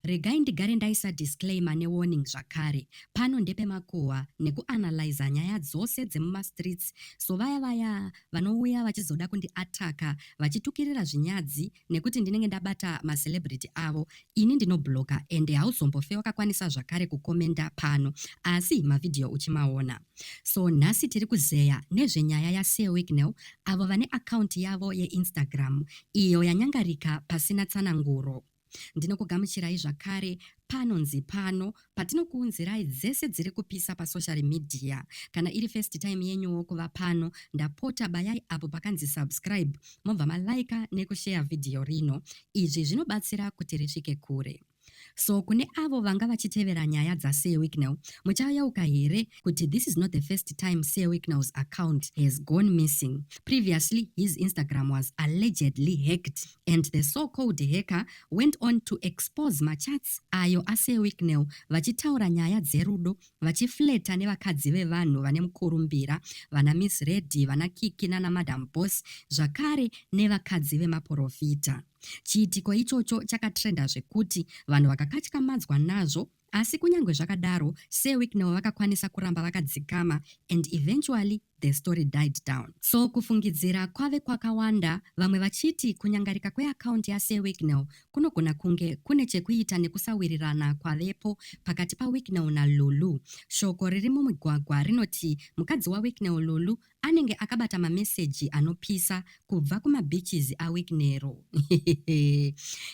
Regai ndigare ndaisa disclaimer ne warning zvakare. Pano ndepe makuhwa neku analyzer nyaya dzose dzemuma streets so vaya vaya vanouya vachizoda kundi attacker vachitukirira zvinyadzi nekuti ndinenge ndabata ma celebrity avo ini ndino blocker ende hauzombofe wakakwanisa zvakare ku commenter pano asi ma video uchimaona. So nhasi tiri kuzeya nezve nyaya ya Sir Wicknell avo vane account yavo ye Instagram iyo yanyangarika pasina tsananguro. Ndinokugamuchirai zvakare panonzi pano patinokuunzirai dzese dziri kupisa pasocial media. Kana iri first time yenyuwo kuva pano, ndapota bayai apo pakanzi subscribe mobva malaika nekusheya vhidhiyo rino. Izvi zvinobatsira kuti risvike kure. So kune avo vanga vachitevera nyaya dzaSir Wicknell, muchayeuka here kuti this is not the first time Sir Wicknell's account has gone missing. Previously, his Instagram was allegedly hacked. And the so called hacker went on to expose machats ayo aSir Wicknell vachitaura nyaya dzerudo vachifleta nevakadzi vevanhu vane mukurumbira, vana Miss Reddy, vana Kiki nana Madam Boss zvakare nevakadzi vemaporofita. Chiitiko ichocho chakatrenda zvekuti vanhu vakakatyamadzwa nazvo Asi kunyangwe zvakadaro Sir Wicknell vakakwanisa kuramba vakadzikama and eventually the story died down. So kufungidzira kwave kwakawanda vamwe vachiti kunyangarika kweakaundi yaSir Wicknell kunogona kunge kune chekuita nekusawirirana kwavepo pakati paWicknell naLulu. Shoko riri mumigwagwa rinoti mukadzi waWicknell Lulu Anenge akabata mameseji anopisa kubva kumabeaches aWicknero.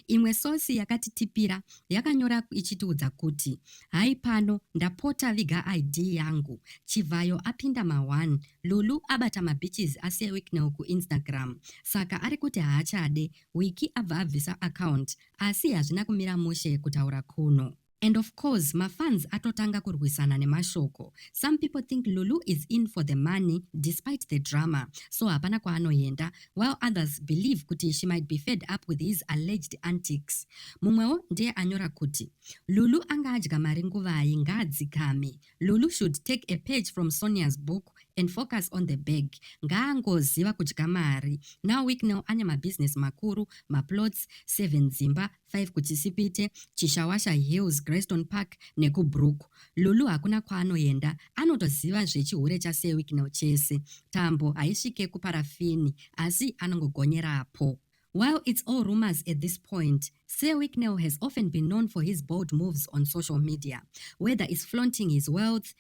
Imwe source yakatitipira yakanyora ichitiudza kuti, Hai pano, ndapota viga ID yangu. Chivhayo apinda ma-one. Lulu abata mabeaches ase eWicknell kuInstagram, saka ari kuti haachade. Wiki abva abvisa account, asi hazvina kumira mushe kutaura kuno. And of course mafans atotanga kurwisana nemashoko. Some people think Lulu is in for the money despite the drama so hapana kwaanoenda while others believe kuti she might be fed up with his alleged antics. Mumwewo ndiye anyora kuti Lulu anga adya mari nguvai ngaadzikame. Lulu should take a page from Sonia's book and focus on the bag ngaangoziva kudya mari now week now ane mabusiness makuru maplots seven dzimba 5 kuChisipite, Chishawasha Hills, Grayston Park nekuBrook. Lulu hakuna kwaanoenda, anotoziva zvechihure chaSir Wicknell chese. Tambo haisvike kuparafini asi anongogonyerapo. While it's all rumors at this point, Sir Wicknell has often been known for his bold moves on social media, whether it's flaunting his wealth,